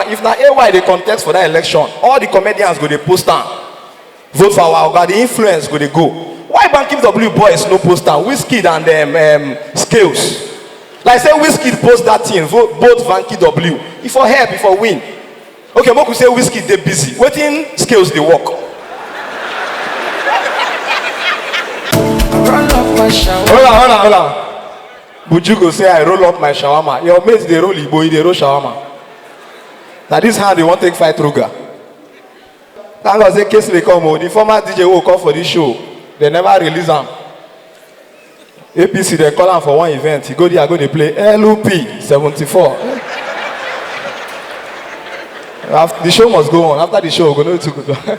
if na ay dey contest for that election all the comedians go dey post am vote for our oga the influence go dey go why bankim w boys no post am wizkid and um, um, scales like say wizkid post that thing vote vote banky w e for help e for win okay make we say wizkid dey busy wetin scales dey work. Run off my shower. hold on hold on hold on Buju go say I roll up my shawarma, your mate dey roll igbo, he dey roll shawarma. Na this hand you wan take fight Ruga? Thank God say Kingsley come o, the former DJ wey we call for this show, dem never release am. APC dem call am for one event, he go there go dey play LP 74. After, the show must go on, after the show we go know wetin we go do.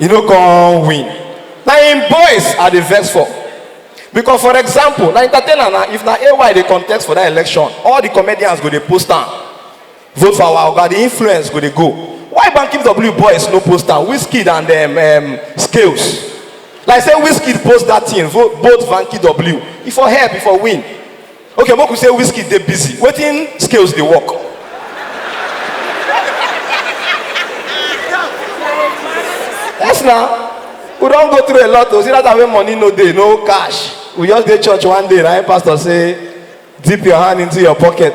e no come win na im boys i dey vex for because for example na entertainer na if na ay dey contest for that election all the comedians go dey post am vote for our oga the influence go dey go why banky w boys no post am wizkid and um, um, scales like say wizkid post that thing vote vote banky w e for help e for win okay make we say whiskey dey busy wetin scales dey work yes na we don go through a lot o see that time wey money no dey no cash we just dey church one day na him pastor say dip your hand into your pocket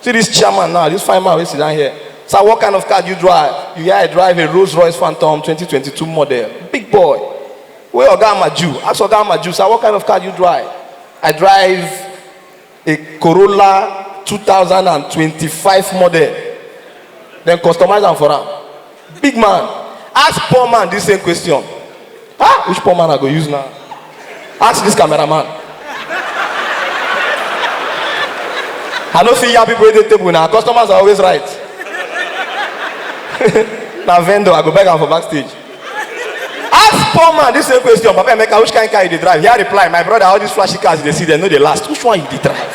See this chairman now, this fine man wey sit down here. Sir, what kind of car do you drive? You hear I drive a Rolls Royce Phantom 2022 model. Big boy. Wey Oga Amaju. Ask Oga Amaju, sir, what kind of car do you drive? I drive a Corolla 2025 model. Dem customize am for am. Big man, ask poor man this same question. Ah, which poor man I go use now? Ask this cameraman. I no fit yab people wey dey table na customers are always right. na vendor I go beg am for backstage. Ask poor man this same question, Papa Emeka, which kind car you dey drive? Here reply, my brother, all these flashy cars you dey see, dem no dey last. Which one you dey drive?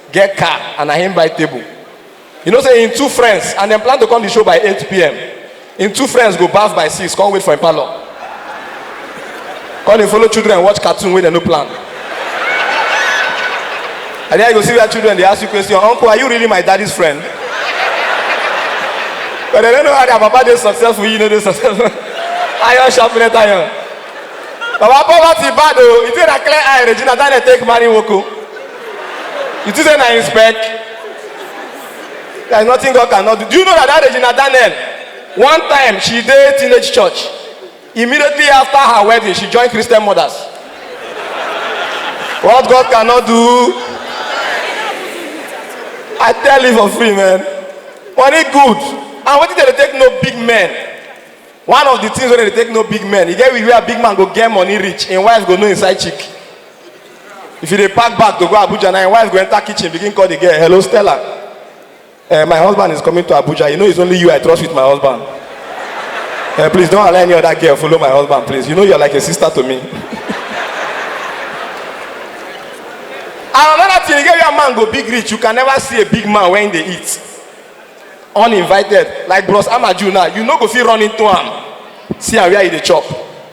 get car and na him buy table you know say him two friends and dem plan to come the show by 8pm him two friends go baff by 6 come wait for him parlour come dey follow children watch cartoon wey dem no plan and then you go see where children dey ask you question uncle are you really my daddy's friend but dem no know how their papa dey successful you no dey successful iron sharpeneth iron baba poverty bad o you think na clear eye regina daniel take marry nwoko. You think say na him spec? There is nothing God cannot do. Do you know that that Regina Daniel, one time she dey teenage church, immediately after her wedding, she joined Christian mothers. What God cannot do, I tell you for free, man. Money good. And wetin dey dey take no big men? One of the things wey dey dey take no big men, e get where big man go get money reach, im wife go know inside chick. if you dey pack bag to go abuja na your wife go enter kitchen begin call the girl hello stella uh, my husband is coming to abuja you know it's only you i trust with my husband uh, please don't allow any other girl follow my husband please you know you're like a sister to me and another thing again where man go big reach you can never see a big man when they eat uninvited like bros amaju now you no go fit run into am see am where he dey chop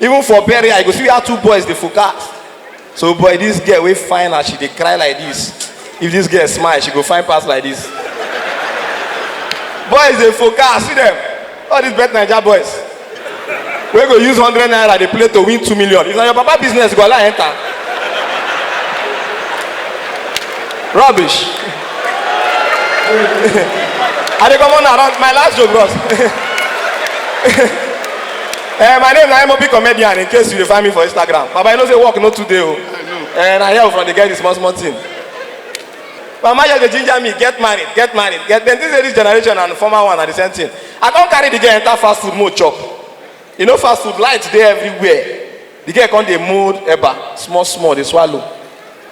even for burial you go see where two boys dey focus so boy this girl wey fine as she dey cry like this if this girl smile she go fine pass like this boys dey focus see them all these bet naija boys wey go use hundred naira dey play to win two million if na your papa business you go allow enter rubbish i dey comot na my last joke bros. Eh, my name na MOP comedian in case you dey find me for Instagram. Baba, you know say work no too dey o. Eh, na here we from dey get the small small thing. Mama just dey ginger me, get married, get married, get then this ladies generation and former one na the same thing. I come carry the girl enter fast food mode chop. You know fast food light dey everywhere. The girl come dey mold eba small small dey swallow.